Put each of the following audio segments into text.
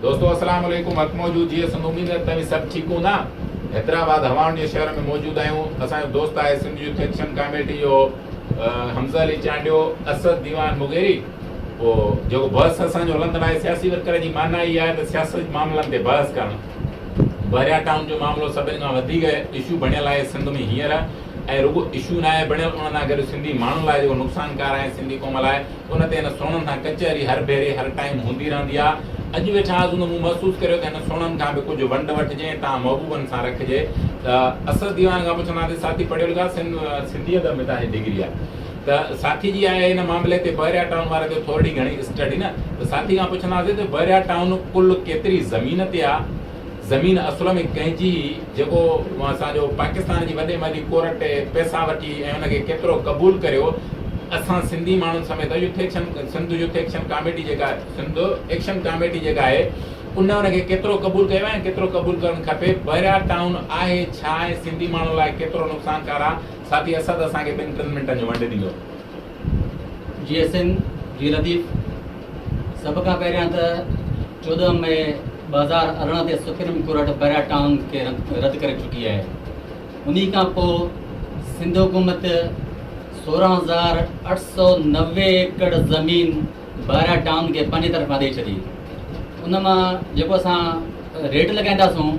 دوستو السلام عليڪم حق موجود جي سنڌ اميد آهي ته توهين سڀ ٺيڪ هوندا حيدرآباد هوائن جي شهر ۾ موجود آهيون اسان جو دوست آهي سنڌ يوٿ ايڪشن ڪاميٽي جو حمزه علي چانڊيو اسد ديوان مغيري پوء جيڪو بحث اسان جو هلندڙ آهي سياسي ورڪر جي معنيٰ اها آهي ته سياسي معاملن تي بحث ڪرڻ بحريا ٽائون جو معاملو سڀني کان وڌيڪ اشو بڻيل آهي سنڌ ۾ هينئر ۽ رڳو اشو ناهي بڻيل ان سان گڏ سنڌي ماڻهن لاء جيڪو نقصانڪار آهي سنڌي قوم لاء ان تي هن سوڻن سان ڪچهري هر ڀيري هر ٽائيم هوندي رهندي آ. اڄ به ڇا ازوندو مون محسوس ڪريو ته هن سوڻن کان به ڪجهه ونڊ وٺجي ۽ تان محبوبن سان رکجي ته اسد ديوان کان پڇندا ته ساٿي پڙهيو لکا سنڌي ادب ۾ تنهنجي ڊگري آ ته ساٿي جي آهي ان معاملي تي بحريا ٽائون واري ته ٿورڙي گهڻي اسٽڊي نه ته ساٿي کان پڇندا سين ته بحريا ٽائون ڪل ڪيتري زمين تي آ زمين اصل ۾ ڪنهن جي هئي جيڪو اسان جو پاڪستان جي وڏي مالي ڪورٽ ٽي پئسا وٺي ۽ ان کي ڪيترو قبول ڪريو اسان سنڌي ماڻهن سميت youth action Sindh youth action committee جيڪا سنڌ ايڪشن ڪاميٽي جيڪا آهي ان ان کي ڪيترو قبول ڪيو ۽ ڪيترو قبول ڪرڻ کپي بحريا ٽائون آهي ڇا ۽ سنڌي ماڻهن لاء ڪيترو نقصانڪار آهي ساٿي اسد اسان کي ٻن ٽن منٽن جو ونڊ ڏيندو. جي ايسن جي لطيف سڀ کان پهريان ته چوڏهن مئي ٻه هزار ارڙهن تي سپريم ڪورٽ بيرا ٽائون کي رد ڪري چڪي آهي انهي کان پوء سنڌ حڪومت سورهن هزار اٺ سو نوي ايڪڙ زمين بيرا ٽائون کي پنهنجي طرفان ڏئي ڇڏي ان مان جيڪو اسان ريٽ لڳائينداسون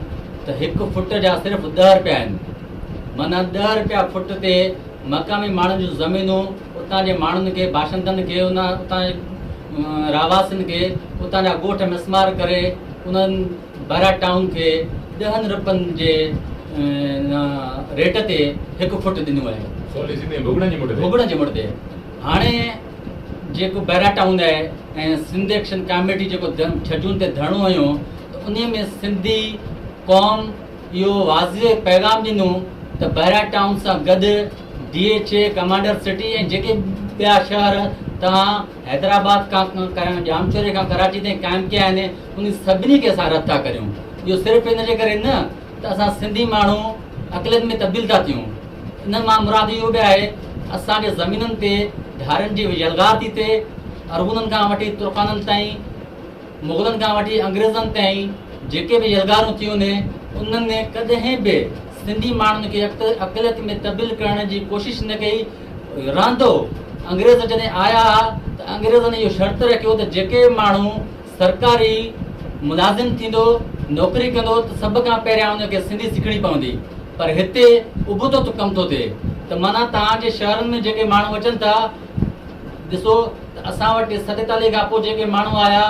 ته هڪ فٽ جا صرف ڏهه رپيا آهن مانا ڏهه رپيا فٽ تي مقامي ماڻهن جون زمينون، اتان جي ماڻهن کي، باشندن کي، اتان جي رهواسين کي اتان جا ڳوٺ مسمار ڪري انهن بئرا ٽائون کي ڏهن رپين جي ريٽ تي هڪ فوٽ ڏنو آهي. سولي سيني ڀڳڙن جي مٺ تي. ڀڳڙن جي مٺ تي. هاڻي جيڪو بئرا ٽائون آهي ۽ سنڌ ايڪشن ڪاميٽي جيڪو ڇجون تي ڌرڻو هنيو ته انهي ۾ سنڌي قوم، اهو واضح پيغام ڏنو ته بحريا ٽائون سان گڏ D H A, Commander City ۽ جيڪي ٻيا شهر توهان حيدرآباد کان ڪرڻ ڄامشوري کان ڪراچي تائين قائم ڪيا آهن انهن سڀني کي اسان رد ٿا ڪريون. اهو صرف ان جي ڪري نه ته اسان سنڌي ماڻهو اقليت ۾ تبديل ٿا ٿيون انهن مان مراد اهو به آهي اسان جي زمينن تي ڌارين جي يلغار ٿي ٿئي ارغونن کان وٺي ترخانن تائين مغلن کان وٺي انگريزن تائين جيڪي به يلغارون ٿيون ني انهن ني ڪڏهن به سنڌي ماڻهن کي اقليت ۾ تبديل ڪرڻ جي ڪوشش نه ڪئي رهندو انگريز جڏهن آيا ها ته انگريزن اهو شرط رکيو ته جيڪي به ماڻهو سرڪاري ملازم ٿيندو نوڪري ڪندو ته سڀ کان پهريان ان کي سنڌي سکڻي پوندي پر هتي ابتو ڪم ٿو ٿئي ته معنيٰ توهان جي شهرن ۾ جيڪي ماڻهو اچن ٿا ڏسو ته اسان وٽ سڏتالي کان پوء جيڪي ماڻهو آيا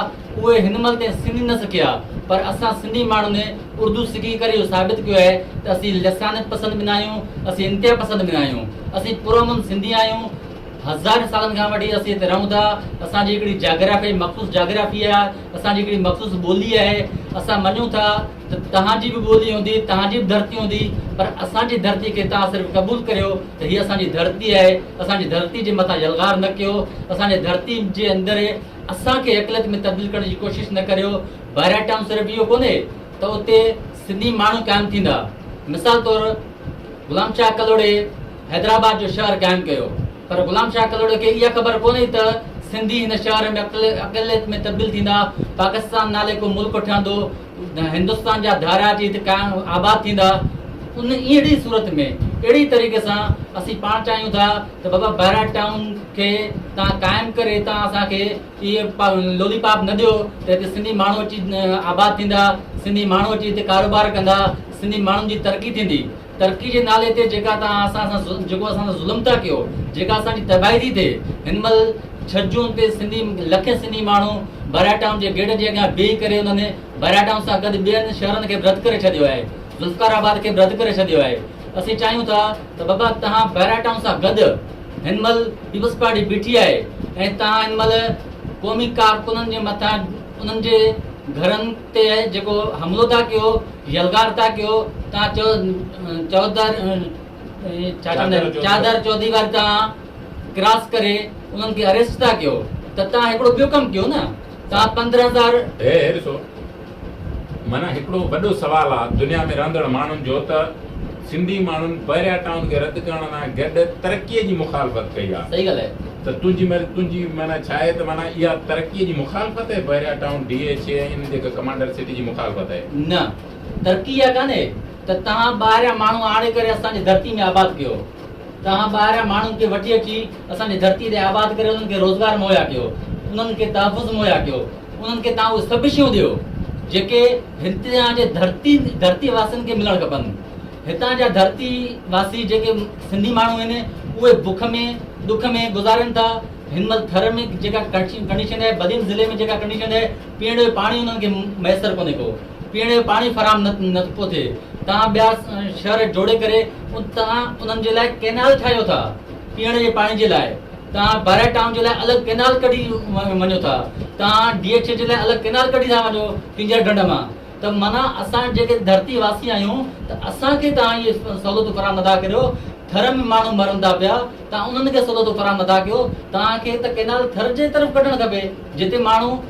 اهي هن مهل تائين سنڌي نه سکيا پر اسان سنڌي ماڻهن اردو سکي ڪري اهو ثابت ڪيو آهي ته اسين لسانيت پسند به ناهيون اسين انتها پسند به ناهيون اسين پرامن سنڌي آهيون هزارين سالن کان وٺي اسين هتي رهون ٿا اسان جي هڪڙي جاگرافي مخصوص جاگرافي آهي اسان جي هڪڙي مخصوص ٻولي آهي اسان مڃون ٿا ته توهان جي به ٻولي هوندي، توهان جي به ڌرتي هوندي، پر اسان جي ڌرتي کي توهان صرف قبول ڪريو ته هيء اسان جي ڌرتي آهي، اسان جي ڌرتي جي مٿان يلغار نه ڪيو، اسان جي ڌرتي جي اندر اسان کي اقليت ۾ تبديل ڪرڻ جي ڪوشش نه ڪريو، بحريا ٽائون صرف اهو ڪونهي ته اتي سنڌي ماڻهو قائم ٿيندا، مثال طور غلام شاهه ڪلهوڙي، حيدرآباد جو شهر قائم ڪيو پر غلام شاهه ڪلهوڙي کي اها خبر ڪونهي ته سنڌي هن شهر ۾ اقليت ۾ تبديل ٿيندا، پاڪستان نالي ڪو ملڪ ٺهندو، هندستان جا ڌاريا اچي هت قائم آباد ٿيندا. ان اهڙي صورت ۾ اهڙي طريقي سان اسين پاڻ چاهيون ٿا ته بابا بهراج ٽائون کي تان قائم ڪري هتان اسان کي اهي لولي پاپ نه ڏيو ته هتي سنڌي ماڻهو اچي آباد ٿيندا، سنڌي ماڻهو اچي هتي ڪاروبار ڪندا، سنڌي ماڻهن جي ترقي ٿيندي. ترقي جي نالي تي جيڪا توهان اسان سان ظلم جيڪو اسان سان ظلم ٿا ڪيو جيڪا اسان جي تباهي ٿي ٿئي هن مهل ڇهه جون تي سنڌي لکين سنڌي ماڻهو بهراء ٽائون جي گيٽ جي اڳيان بيهي ڪري انهن بهراء ٽائون سان گڏ ٻين شهرن کي به رد ڪري ڇڏيو آهي ذوالفقار آباد کي به رد ڪري ڇڏيو آهي اسين چاهيون ٿا ته بابا توهان بهراء ٽائون سان گڏ هن مهل پيپلز پارٽي بيٺي آهي ۽ توهان هن مهل قومي ڪارڪنن جي مٿان انهن جي گهرن تي جيڪو حملو ٿا ڪيو يلغار ٿا ڪيو تان چو چودر ڇا چوندي چادر چوديوار تان ڪراس ڪري انهن کي اريسٽ ٿا ڪيو ته تان هڪڙو ٻيو ڪم ڪيو نه تان 15000 هي هي ڏسو معنيٰ هڪڙو وڏو سوال آ دنيا ۾ رهندڙ ماڻهن جو ته سنڌي ماڻهن بحريا ٽائون کي رد ڪرڻ لاء گڏ ترقي جي مخالفت ڪئي آ صحيح ڳالهه آهي. ته تنهنجي معنيٰ تنهنجي معنيٰ ڇا آهي ته معنيٰ اها ترقي جي مخالفت آهي Bahria Town D H A ۽ ان جي هڪ ڪمانڊر سٽي جي مخالفت آهي. نه ترقي اها ڪانهي ته توهان ٻاهريان ماڻهو آڻي ڪري اسان جي ڌرتي ۾ آباد ڪيو توهان ٻاهريان ماڻهن کي وٺي اچي اسان جي ڌرتي تي آباد ڪري انهن کي روزگار مهيا ڪيو انهن کي تحفظ مهيا ڪيو انهن کي توهان اهي سڀ شيون ڏيو جيڪي هتان جي ڌرتي ڌرتي واسين کي ملڻ کپن. هتان جا ڌرتي واسي جيڪي سنڌي ماڻهو آهن اهي بک ۾ ڏک ۾ گذارين ٿا. هن مهل ٿر ۾ جيڪا ڪنڊيشن آهي بدين ضلعي ۾ جيڪا ڪنڊيشن آهي پيئڻ جو پاڻي انهن کي ميسر ڪونهي ڪو پيئڻ جو پاڻي فراهم نه ٿو ٿئي توهان ٻيا شهر جوڙي ڪري توهان انهن جي لاء ڪينال ٺاهيو ٿا پيئڻ جي پاڻي جي لاء توهان بئرا ٽائون جي لاء الڳ ڪئنال ڪڍي وڃو ٿا توهان ڊي ايڇ اي جي لاء الڳ ڪئنال ڪڍي ٿا وڃو ڪينجهر ڍنڍ مان ته معنيٰ اسان جيڪي ڌرتي واسي آهيون ته اسان کي توهان اهي سهولتون فراهم نٿا ڪريو ٿر ۾ ماڻهو مرن ٿا پيا توهان انهن کي سهولتون فراهم نٿا ڪيو توهان کي ته ڪئنال ٿر جي طرف ڪڍڻ کپي جتي ماڻهو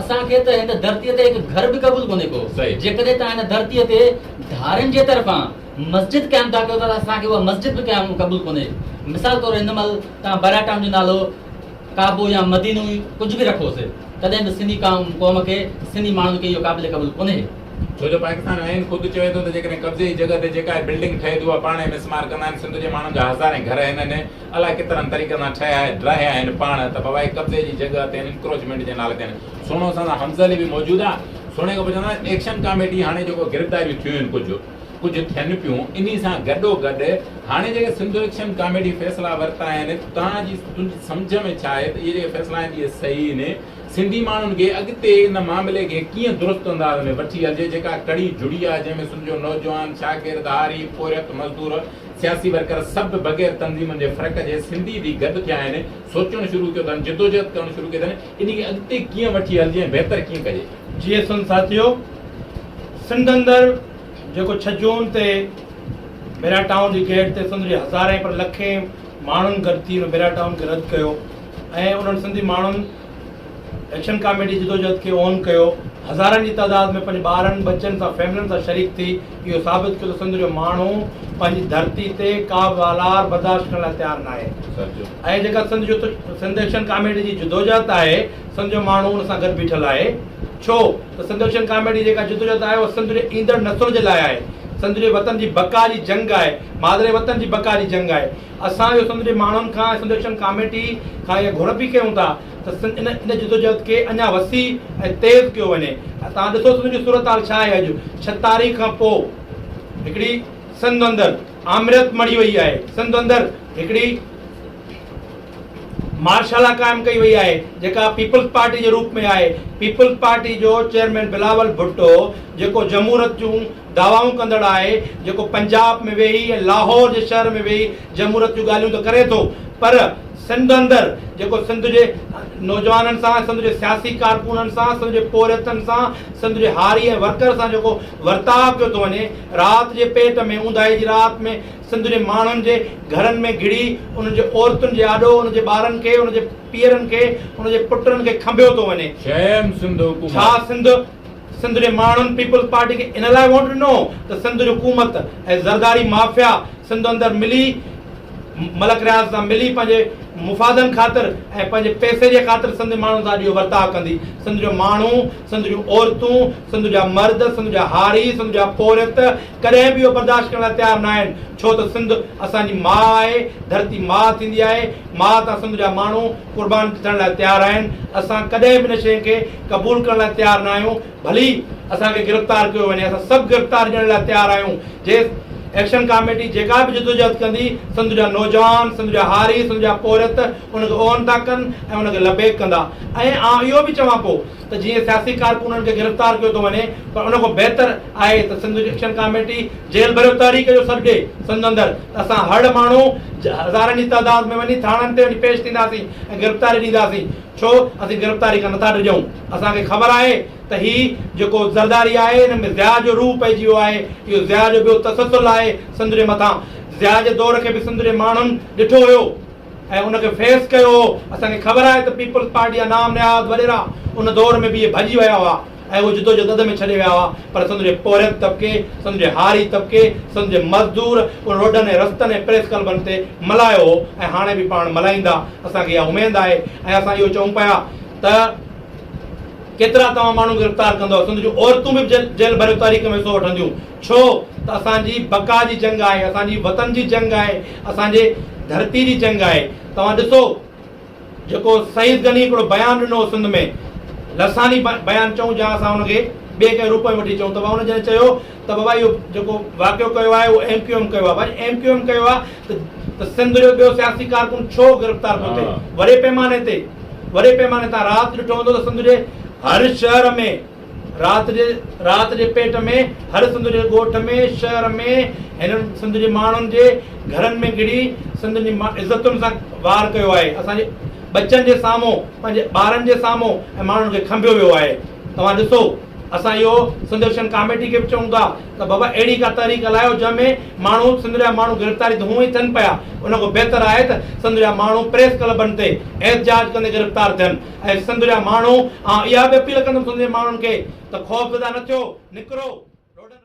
اسان کي ته هن ڌرتيء تي هڪ گهر به قبول ڪونهي ڪو. جيڪڏهن توهان هن ڌرتيء تي ڌارين جي طرفان مسجد قائم ٿا ڪيو ته اسان کي اها مسجد به قيام قبول ڪونهي. مثال طور هن مهل توهان براء ٽائون جو نالو ڪعبو يا مدينو ئي ڪجهه به رکوس تڏهن به سنڌي قوم کي سنڌي ماڻهن کي اهو قابل قبول ڪونهي. ڇو جو پاڪستان آئين خود چوي ٿو ته جيڪڏهن قبضي جي جڳهه تي جيڪا هي بلڊنگ ٺهي ٿي اها پاڻ ايم ايس مار ڪندا آهن. سنڌ جي ماڻهن جا هزارين گهر هنن الائي ڪيترن طريقن سان ٺهيا ڊاهيا آهن پاڻ ته بابا هي قبضي جي جڳهه تي انڪروچمينٽ جي نالي تي آهن سهڻو سندن حمزه علي به موجود آ سهڻي کان پوء چوندو آهيان ايڪشن ڪاميڊي هاڻي جيڪو گرفتاريون ٿيون آهن ڪجهه ڪجهه ٿين پيون انهي سان گڏو گڏ هاڻي جيڪي سنڌو ايڪشن ڪاميڊي فيصلا ورتا آهن توهان جي تنهنجي سمجهه ۾ ڇا آهي ته اهي جيڪي فيصلا آهن اهي صحيح آهن سنڌي ماڻهن کي اڳتي ان معاملي کي ڪيئن درست انداز ۾ وٺي هلجي جيڪا ڪڙي جڙي آ جنهن ۾ سنڌ جو نوجوان شاگرد هاري پورهيت مزدور سياسي ورڪر سڀ بغير تنظيمن جي فرق جي سنڌي ٿي گڏ ٿيا آهن، سوچڻ شروع ڪيو اٿن، جدوجهد ڪرڻ شروع ڪئي اٿن، انهي کي اڳتي ڪيئن وٺي هلجي ۽ بهتر ڪيئن ڪجي. جي سنڌ ساٿيو، سنڌ اندر جيڪو ڇهه جون تي بيرا ٽائون جي گيٽ تي سنڌ جي هزارين پر لکين ماڻهن گڏ ٿي ان بيرا ٽائون کي رد ڪيو ۽ انهن سنڌي ماڻهن ايڪشن ڪاميڊي جدوجهد کي اون ڪيو، هزارن جي تعداد ۾ پنهنجي ٻارن، ٻچن سان فيملن سان شريڪ ٿي اهو ثابت ڪيو ته سنڌ جو ماڻهو پنهنجي ڌرتي تي ڪا به والار برداشت ڪرڻ لاء تيار ناهي ۽ جيڪا سنڌ جو سنڌ ايڪشن ڪاميڊي جي جدوجهد آهي سنڌ جو ماڻهو ان سان گڏ بيٺل آهي ڇو ته سنڌ ايڪشن ڪاميڊي جيڪا جدوجهد آهي اها سنڌ جي ايندڙ نسل جي لاء آهي سنڌ جي وطن جي بقا جي جنگ آهي مادري وطن جي بقا جي جنگ آهي. اسان اهو سنڌ جي ماڻهن کان ۽ سنڌ ايڪشن ڪاميٽي کان اها گهر به ڪيون ٿا ته سنڌ ان ان جدوجهد کي اڃا وسيع ۽ تيز ڪيو وڃي ۽ توهان ڏسو سنڌ جي صورتحال ڇا آهي اڄ ڇهه تاريخ کان پوء هڪڙي سنڌ اندر آمريت مڙهي وئي آهي سنڌ اندر هڪڙي مارشالا قائم ڪئي وئي آهي جيڪا پيپلز پارٽي جي روپ ۾ آهي پيپلز پارٽي جو چيئرمين بلاول ڀٽو جيڪو جمهورت جون دعوائون ڪندڙ آهي جيڪو پنجاب ۾ ويهي ۽ لاهور جي شهر ۾ ويهي جمهوريت جون ڳالهيون ته ڪري ٿو پر سنڌ اندر جيڪو سنڌ جي نوجوانن سان سنڌ جي سياسي ڪارڪونن سان سنڌ جي پورهيتن سان سنڌ جي هاري ۽ ورڪر سان جيڪو ورتاء ڪيو ٿو وڃي رات جي پيٽ ۾ اونداهي جي رات ۾ سنڌ جي ماڻهن جي گهرن ۾ گهڙي انهن جي عورتن جي آڏو انهن جي ٻارن کي انهن جي پيئرن کي انهن جي پٽن کي کنڀيو ٿو وڃي شيم سنڌ حڪومت. ڇا سنڌ سنڌ جي ماڻهن پيپلز پارٽي کي ان لاء ووٽ ڏنو ته سنڌ جي حڪومت ۽ زرداري مافيا سنڌ اندر ملي ملڪ رياض سان ملي پنهنجي مفادن خاطر ۽ پنهنجي پئسي جي خاطر سنڌ جي ماڻهن سان اجهو ورتاء ڪندي سنڌ جو ماڻهو سنڌ جون عورتون سنڌ جا مرد سنڌ جا هاري سنڌ جا پورهيت ڪڏهن به اهو برداشت ڪرڻ لاء تيار ناهن ڇو ته سنڌ اسان جي ماء آهي ڌرتي ماء ٿيندي آهي ماء تان سنڌ جا ماڻهو قربان ٿيڻ لاء تيار آهن، اسان ڪڏهن به ان شيء کي قبول ڪرڻ لاء تيار نه آهيون، ڀلي اسان کي گرفتار ڪيو وڃي، اسان سڀ گرفتار ڏيڻ لاء تيار آهيون، جي ايڪشن ڪاميٽي جيڪا به جدوجهد ڪندي، سنڌ جا نوجوان، سنڌ جا هاري، سنڌ جا پورهيت ان کي اون ٿا ڪن ۽ ان کي لبيڪ ڪندا ۽ آئون اهو به چوان پو. ته جيئن سياسي ڪارڪنن کي گرفتار ڪيو ٿو وڃي پر ان کان بهتر آهي ته سنڌ ايڪشن ڪاميٽي جيل ڀريو تحريڪ جو سڏ ڏي سنڌ اندر ته اسان هڙ ماڻهو هزارن جي تعداد ۾ وڃي ٿاڻن تي وڃي پيش ٿينداسين ۽ گرفتاري ڏينداسين ڇو اسين گرفتاري کان نٿا ڊڄون اسان کي خبر آهي ته هي جيڪو زرداري آهي ان ۾ ضياء جو روح پئجي ويو آهي اهو ضياء جو ٻيو تسلسل آهي سنڌ جي مٿان ضياء جي دور کي به سنڌ جي ماڻهن ڏٺو هيو ۽ ان کي فيس ڪيو هو، اسان کي خبر آهي ته پيپلز پارٽي جا نام نهاد وڏيرا ان دور ۾ به اهي ڀڄي ويا هئا ۽ اهو جدوجهد اڌ ۾ ڇڏي ويا هئا پر سنڌ جي پورهيت طبقي، سنڌ جي هاري طبقي، سنڌ جي مزدور ان روڊن ۽ رستن ۽ پريس ڪلبن تي ملهايو هو ۽ هاڻي به پاڻ ملهائيندا اسان کي اها اميد آهي ۽ اسان اهو چئون پيا ته ڪيترا توهان ماڻهو گرفتار ڪندؤ سنڌ جون عورتون به جيل ڀريو تحريڪ ۾ حصو وٺنديون. ڇو ته اسان جي بقا جي جنگ آهي، اسان جي وطن جي جنگ آهي، اسان جي ڌرتي جي جنگ آهي. توهان ڏسو جيڪو سعيد غني هڪڙو بيان ڏنو هو سنڌ ۾ لساني بيان چئون جا اسان ان کي ٻئي ڪنهن روپ ۾ وٺي چئون ته بابا ان جڏهن چيو ته بابا اهو جيڪو واقعو ڪيو آهي اهو ايم ڪيو ايم ڪيو آهي ڀاڄي ايم ڪيو ايم ڪيو آهي ته سنڌ جو ٻيو سياسي ڪارڪن ڇو گرفتار ٿو ٿئي وڏي پيماني تي وڏي پيماني تان رات ڏٺو هوندو ته سنڌ جي هر شهر ۾ رات جي رات جي پيٽ ۾ هر سنڌ جي ڳوٺ ۾ شهر ۾ هنن سنڌ جي ماڻهن جي گهرن ۾ گهڙي سنڌ جي عزتن سان وار ڪيو آهي اسان جي ٻچن جي سامهون پنهنجي ٻارن جي سامهون ۽ ماڻهن کي کنڀيو ويو آهي توهان ڏسو اسان اهو سنڌرشن ڪاميٽي کي به چئون ٿا ته بابا اهڙي ڪا تحريڪ هلايو جنهن ۾ ماڻهو سنڌ جا ماڻهو گرفتاري ته هونئن ئي ٿين پيا ان کان بهتر آهي ته سنڌ جا ماڻهو پريس ڪلبن تي احتجاج ڪندي گرفتار ٿين اي سنڌ جا ماڻهو، آئون اها به اپيل ڪندم سنڌ جي ماڻهن کي ته خوفزده نه ٿيو، نڪرو، لوڏن.